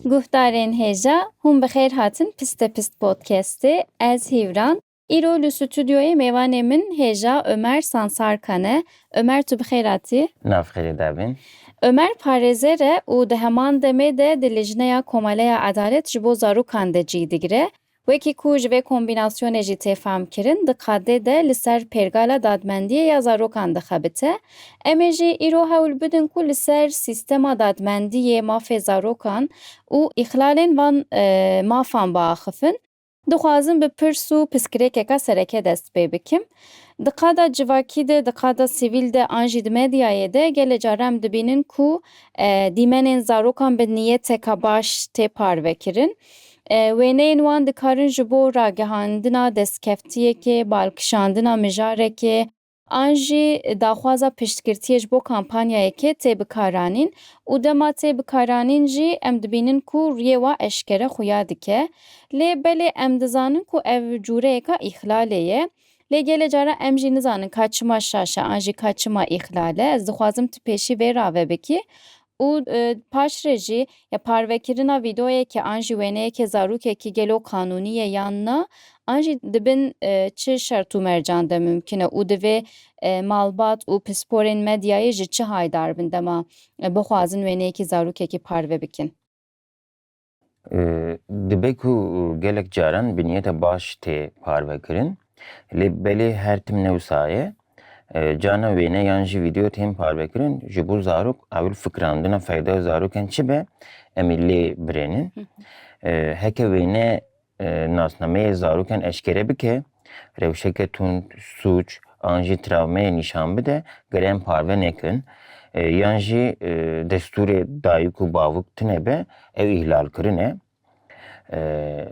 Guhdarên hêja, hûn bi xêr hatin Piste Pist Podcastê. Ez Hîvran. Îro li stûdyoyê mêvanê min hêja Ömer Sansarkan e. Omer tu bi xêr hatî. Nav xêrê de bîn. Omer parêzer e û di heman demê de di Lijneya Komeleya Edalet ji bo Zarokan de cîh digire. Wekî ku ji vê kombînasyonê jî tê famkirin, di qadê de li ser pêrgala dadmendiyê ya zarokan dixebite. Em ê jî îro hewl bidin ku li ser sîstema dadmendiyê, mafê zarokan û îxlalên van mafan biaxifin. Dixwazim bi pirs û piskirêkeka sereke dest pê bikim. Di qada civakî de, di qada sivîl de an jî di medyayê de gelê caran em dibînin ku dîmenên zarokan bi niyeteka baş tê parvekirin. Wêneyên wan dikarin ji bo ragihandina destkeftiyekê, balkişandina mijarekê, an jî daxwaza piştgirtiyê ji bo kampanyayekê tê bikaranîn û dema tê bikaranîn jî em dibînin ku rûyê wa eşkere xuya dike. Lê belê em dizanin ku ev cûreyeka îxlalê ye. Lê gelê caran em jî nizanin ka çima şaş e an jî ka çima îxlal e. Ez dixwazim tu pêşî vê rave bikî Û paş re jî ya parvekirina vîdeoyekê an jî wêneyekê zarokekî gelo qanûnî ye yan na an jî di bin çi şert û mercan de mumkîn e û divê malbat û pisporên medyayê ji çi haydar bin dema bixwazin wêneyekî zarokekî parve bikin. Dibe ku gelek caran bi niyeta baş tê parvekirin lê belê her tim ne wisa ye. Carna wêne yan jî vîdeo tên parvekirin ji bo zarok ewil fikirandina feyda zarokên çi be em ê lê birênin. Heke wêne nasnameyê zarokan eşkere bike, rewşeke tund, sûc an jî travmeyê nîşan bide, girên parve nekin yan jî destûrê dayik û bavik tune be ew îhlalkirin e.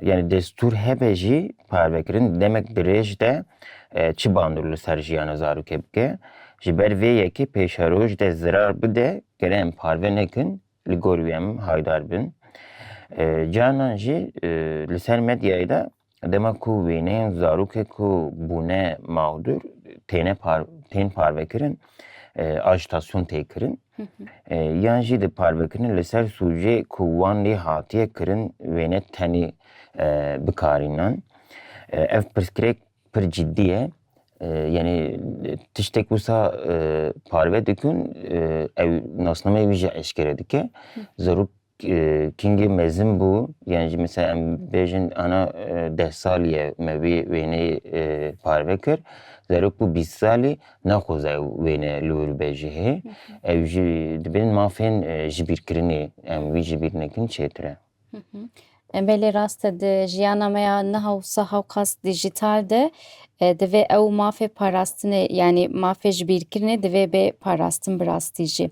Yanî destûr hebe jî parvekirin di demek dirêj de çi bandor li ser jiyana zarokê bike. Ji ber vê yekê pêşeroj de zirar bide girên parve nekin li gor wî em haydar bin. Carinan jî li ser medyayê de dema ku wêneyên zarokê ku bûne mağdur têne par, tên parvekirin ajitasyon tê kirin. Yan jî di parvekirin li ser sûcê ku wan lê hatiye kirin wêne tenê bikarînan. Ev pirsgirêk Pir ciddî ye. Yanî tiştek wisa parve dikin ew nasnameyê wî jî eşkere dike. Zarok kingê mezin bû yan jî misal em bêjin ana deh salî ye me vê wêneyê parve kir. Zarok bû bîst salî naxwaze ew wêne li wir bibe ji hê. Ew jî dibin mafên jibîrkirinê em wî jibîr nekin çêtir e. Belê rast e di jiyana me ya niha û saha û qas dijîtal de e, divê ew mafê parastinê yanî mafê ji bîrkirinê divê bê parastin bi rastî jî.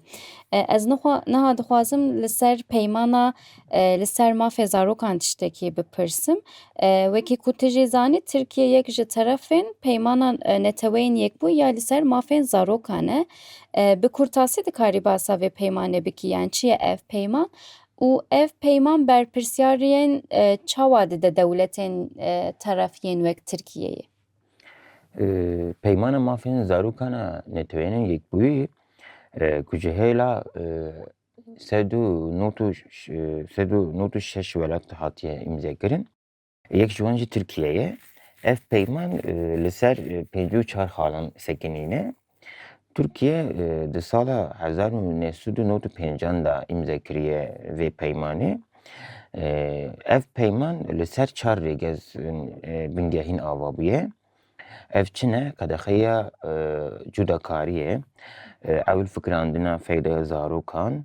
E, Ez nixwa niha dixwazim li ser peymana e, li ser mafê zarokan tiştekî bipirsim. E, Wekî ku tu jî zanî Tirkiye yek ji terefên peymana e, neteweyên yekbû ya li ser mafên zarokan e. E, Bi kurtasî dikarî basa vê peymanê bikî yan çi ye ev peyman? Û ev peyman berpirsyariyên çawa dide dewletên teref yên wek Tirkiyeyê? Peymana mafên zarokan a NATO'yê yên Yekbûyî ku ji hêla sed û nod û sed û nod û şeş welat hatiye îmzekirin, Yek ji wan jî Tirkiye ye. Ev peyman li ser pêncî û çar xalan sekinî ne. Tirkiye di sala hezar û neh sed û nod û pêncan de îmze kiriye vê peymanê. Ev peyman li ser çar rêgezên bingehîn ava bûye. Ev çi ne? Qedexeya cudakariyê, ewil fikirandina feyda zarokan,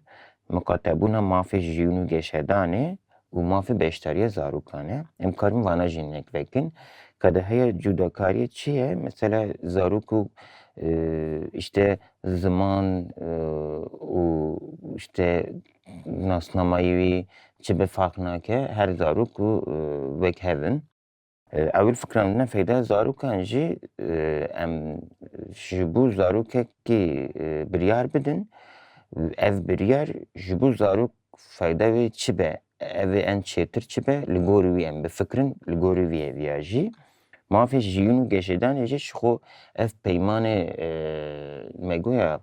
miqatebûna mafê jiyûn û geşedanê û mafê beşdariya zarokan e. Em karin vana jî nek vekin. Qedeheya cudakariyê çi ye? Mesela zarok û işte ziman û işte nasnamayî wî çi bi farq nake. Her zarok û wek hev in. Ewil fikra min e feyda zarokan jî em ji bo zarokekî biryar bidin û ev biryar ji bo zarok feyda wê çi be, ev ê en çêtir çi be li gorî wî em bifikirin, li gorî vî hêvî ya jî mafê jiyîn û geşêdanê jî ji xwe ev peymanê me goya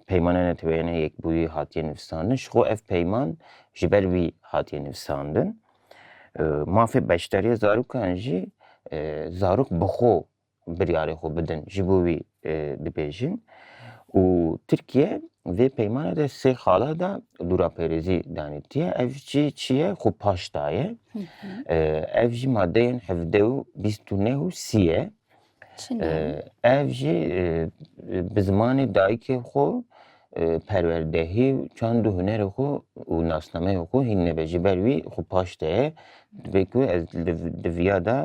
Peymana Neteweyana Yekbûyî hatiye nivîsandin ji xwe ev peyman ji ber wî hatiye nivîsandin. Mafê beşdariya zarokan jî zarok bi xwe biryarê xwe bidin ji bo wî dibêjin û Tirkiye vê peymana de sê xala da dûrapêrêzî danî tiye ev jî çi ye xwe paş daye. Ev jî madeyên hevdeh û bîst û neh û sî ye. Ev jî bi zimanê dayikê xwe perwerdehî û çand û hunerê xwe û nasnameyê xwe hînine be. Ji ber wî xwe paş de ye. Divê ku ez di viya de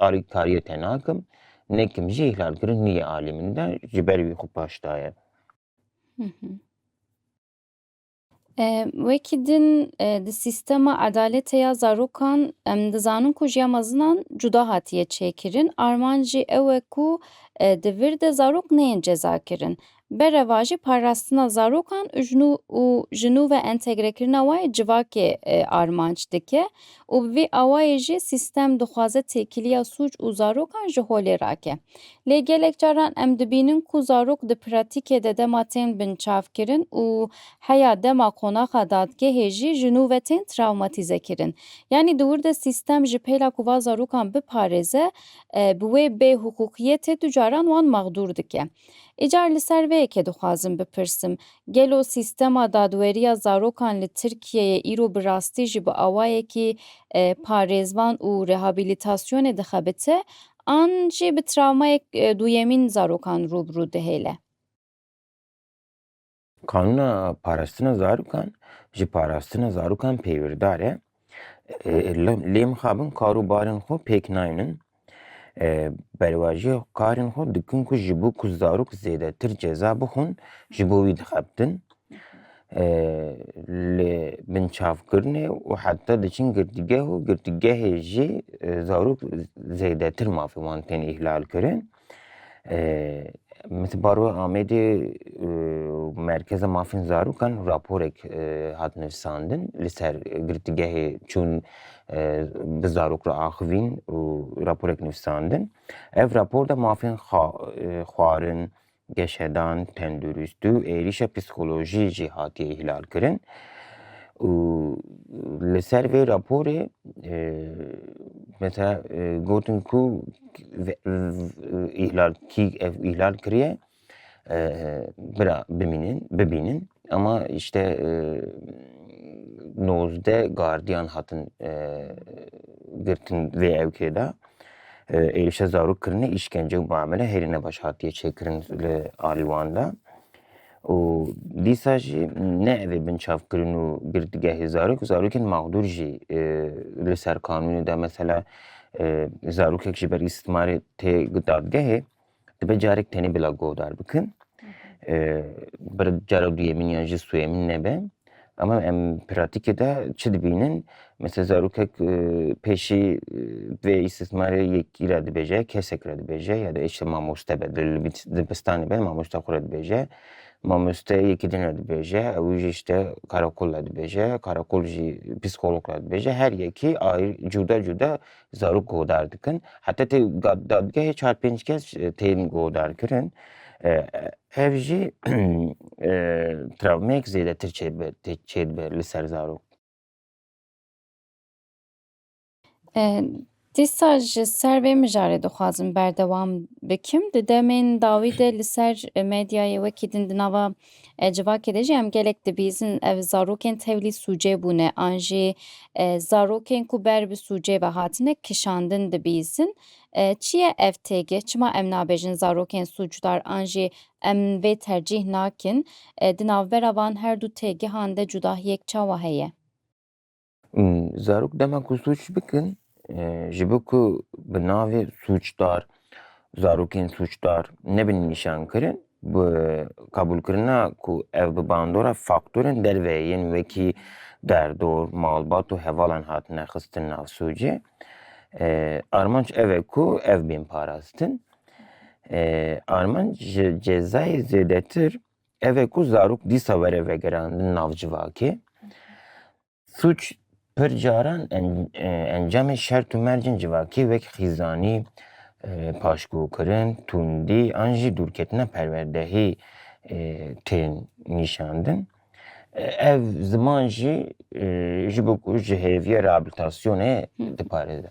alîkariyê te nakim. Nekim jî îhlalkirin nîyê alî min de. Ji ber wî xwe paş daye. Wekî din di sîstema edaletê ya zarokan em dizanin ku jiya mezinan cuda hatiye çêkirin. Armanjî ew e ku di vir de zarok neyên cezakirin. Bereva jî parastina zarokan û ji nû ve entegrekirina wan ê civakê armanc dike. û bi vî awayê jî sîstem dixwaze têkiliya sûc û zarokan ji holê rake. Lê gelek caran em dibînin ku zarok di pratîkê de dema tên binçavkirin û heya dema qonaxa dadgehê jî ji nû ve tên trawmatîzekirin. Yanî di wir de sîstem ji pêla ku va zarokan biparêze, bi wê bêhiqûqiyetê du caran wan mexdûr dike. Îcar li ser vê yekê dixwazim bipirsim, gelo sîstema dadweriya zarokan li Tirkiyeyê îro bi rastî jî bi awayekî parêzvan û rehabilitasyonê dixebite an jî bi travmayek duyemîn zarokan rû bi rû dihêle? Kanûna Parastina Zarokan ji parastina zarokan peyvîrdar e. Lê mixabin kar û barên xwe pêk naynin. Berwajiya karên xwe dikin ku ji bo ku zarok zêdetir ceza bixwin ji bo wî dixebtin. Li binçavkirinê û heta diçin girtîgeh û girtîgehê jî zarok zêdetir mafê wan tên îhlal kirin. Min di baroya Amêdê û Merkeza Mafên Zarokan raporek hat nivîsandin li ser girtîgehê çûn bi zarok re axivîn û raporek nivîsandin. Ev rapor de mafên xwarin, geşedan, tenduristî û êrîşa psîkolojî jî hatiye îhlalkirin û li ser vê raporê mesela gotin ku îhlal kî ev îhlal kiriye bira bimînin bibînin ama işte nozdeh gardiyan hatin girtin vê evkê de êrişa zarok kirine îşkence û muamele hêrî nebaş hatiye çêkirin li alî wan de. û dîsa jî neavê binçavkirin û girtîgehê zarok û zarokên mexdûr jî e, li ser kanûnê de mesela e, zarokek ji ber îstîmarê tê dadgehê dibe carek tenê bila guhdar bikin. E, bir cara duyemîn yan jî suyemîn nebe. Ama em pratîkê de çi dibînin? Mesela zarokek pêşî vê îstismarê yekî re dibêje, kesek re dibêje ya da işte mamoste be, dibistanê be mamoste xwe re dibêje. Mamoste yekî din re dibêje, ew jî işte karakol re dibêje, karakol jî psîkolog re dibêje. Her yekî cuda cuda Zarok guhdar dikin. Heta tê dadgehê çar pênc kes tên guhdarkirin. Ev jî travmeyek zêdetir çêdibe li ser zarok. Dîsa ji ser vê mijarê dixwazim berdewam bikim. Di demên dawî de li ser medyayê wekî din di nava Civakê de jî em gelek dibîzin ev zarokên tevlî sûcê bûne an jî zarokên ku ber bi sûcê ve hatine kişandin dibîzin. Çi ye ev têgih? Çima em nabêjin zarokên sûcdar an jî em vê tercîh nakin? Di navbera van her du têgihan de cudahiyek çawa heye? Zarok dema ku sûc bikin e, ji bo ku bi navê sûcdar zarokên sûcdar nebin nîşankirin bi kabûlkirina ku ev bi bandora faktorên derve yên wekî derdor, malbat û hevalan hatine xistin nav sûcê. E, armanc ev e ku ev bên parastin. E, armanc ji cezayê zêdetir Ev e ku zarok dîsa were vegirandin nav civakê. Sûc pir caran encamê şert û mercên civakê wek xîzanî, paşgukirin, tundî an jî dûrketina perwerdehî tên nîşandin. Ev ziman jî ji bo ku ji hêviya reabilitasyonê diparêze.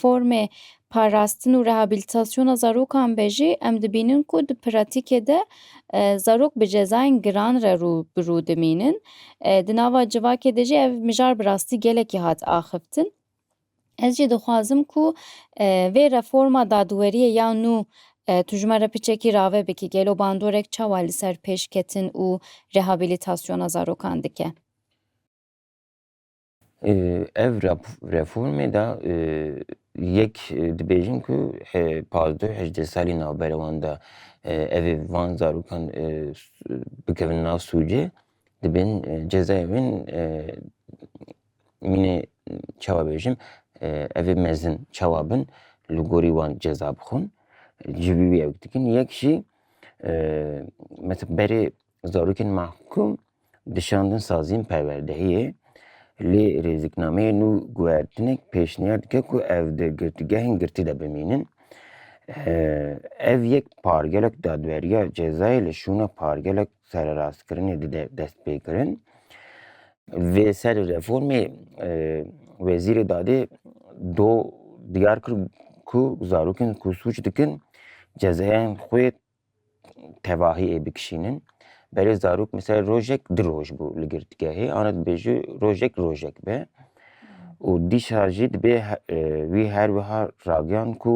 formê parastin û rehabilitasyona zarokan be jî em dibînin ku di pratîkê de zarok bi cezayên giran re rû bi rû dimînin. Di nava civakê de jî ev mijar bi rastî gelekî hat axiftin. Ez jî dixwazim ku vê reforma dadweriyê ya nû tu ji me re piçekî rave bikî gelo bandorek çawa li ser pêşketin û rehabilitasyona zarokan dike? Ev reformê de yek dibêjin ku pazdeh hejdeh salî navbera wan de evê van zarokan bikevin nav sûcê dibên cezaya wê mînê çawa bêjim evê mezin çawa bin li gorî wan ceza bixwin ji vî wê ew dikin. Yek jî mesela berê Zarokên mehkûm dişandin saziyên perwerdehiyê lê rêziknameyê nû guhertinek pêşniyar dike ku ev di girtîgehên girtî de bimînin. Ev yek pargelek dadweriya cezayê li şûna pargelek sererastkirinê dide destpêkirin. Vê serê reformê Wezîrê Dadê do diyar kir ku zarokên ku sûc dikin cezayan xwe tevahiyê bikişînin. Berê zarok mesela rojek du roj bû li girtgehê ana dibêje rojek rojek be û dîsa jî dibê wî her wiha ragiyan ku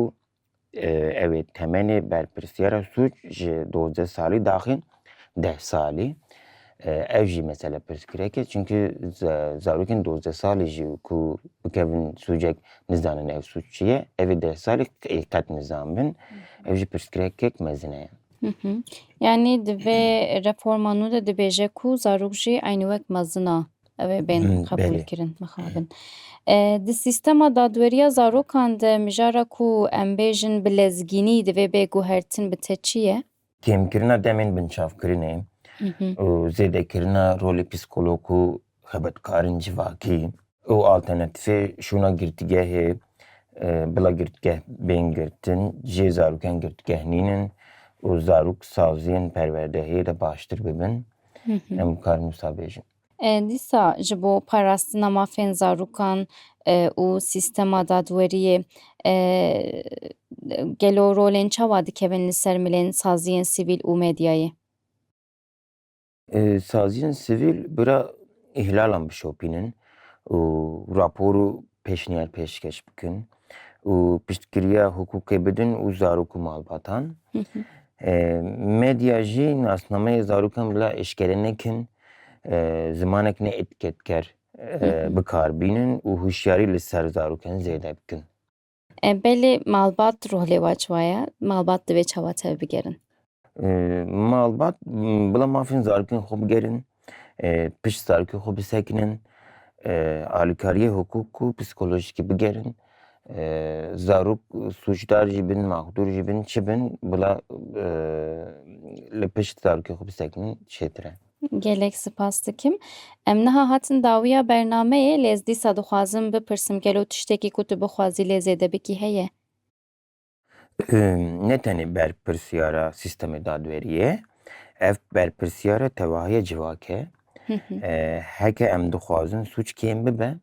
ew ê temenê berpirsyara sûc ji dozdeh salî daxin deh salî. Ev jî mesele pirsgirêk e çimkî zarokên dozdeh salî jî ku bikevin sûcek nizanin ev sûc çi ye. Evê deh salî ê qet nizan bin. Ew jî pirsgirekek mezin e. Yanî di vê reforma nû de dibêje ku zarok jî eynî wek mezin a ew ê bên qebûlkirin, mixabin. Di sîstema dadweriya zarokan de mijara ku em bêjin bi lezgînî divê bê guhertin bi te çi ye? kêmkirina demên binçavkirinê û zêdekirina rolê psîkolog û xebitkarên civakî û alternatîfê şûna girtîgehê bila girtîgeh bên girtin jê zarokan girtîgeh nînin û zarok saziyên perwerdehiyê de baştir bibin em bi kar nûsa bêjin. E, Dîsa ji bo parastina mafên zarokan e, û sîstema dadweriyê e, gelo rolên çawa dikevin li ser milên saziyên sivîl û medyayê? E, Saziyên sivîl bira îhlalan bişopînin û rapor û pêşniyar pêşkêş bikin û piştgiriya hukûkê bidin û zarok û malbatan. Medya jî nasnameyê zarokan bila eşkere nekin, zimanek ne etiketker bikar bînin û hûşyarî li ser zarokan zêde bikin. Belê malbat ruh lê wa çiwa ye, malbat divê çawa tevbigerin? Malbat bila mafên zarokên xwe bigerin, pişt zarokên xwe bisekinin, alîkariyê hukuk û psîkolojîkî bigerin. Zarok sûcdar jî bin, maxdûr jî bin, çi bin bila li pişt zarokê xwe bisekinin çêtir e. Gelek sipas dikim. Em niha hatin dawiya bernameyê lê ez dîsa dixwazim bipirsim gelo tiştekî ku tu bixwazî lê zêde bikî heye? Ne tenê berpirsyara sîstemê dadweriyê, ev berpirsyara tevahiya civak e. Heke em dixwazin sûc kêm bibe,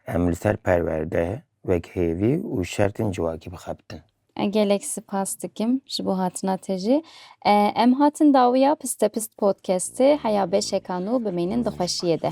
em li ser perwerde, wekhêvî û şertên civakî bixebtin. Gelek sipas dikim ji bo hatina te jî. Em hatin dawiya Pistepist Podcastê heya beşekan û bimînin di xweşiyê de.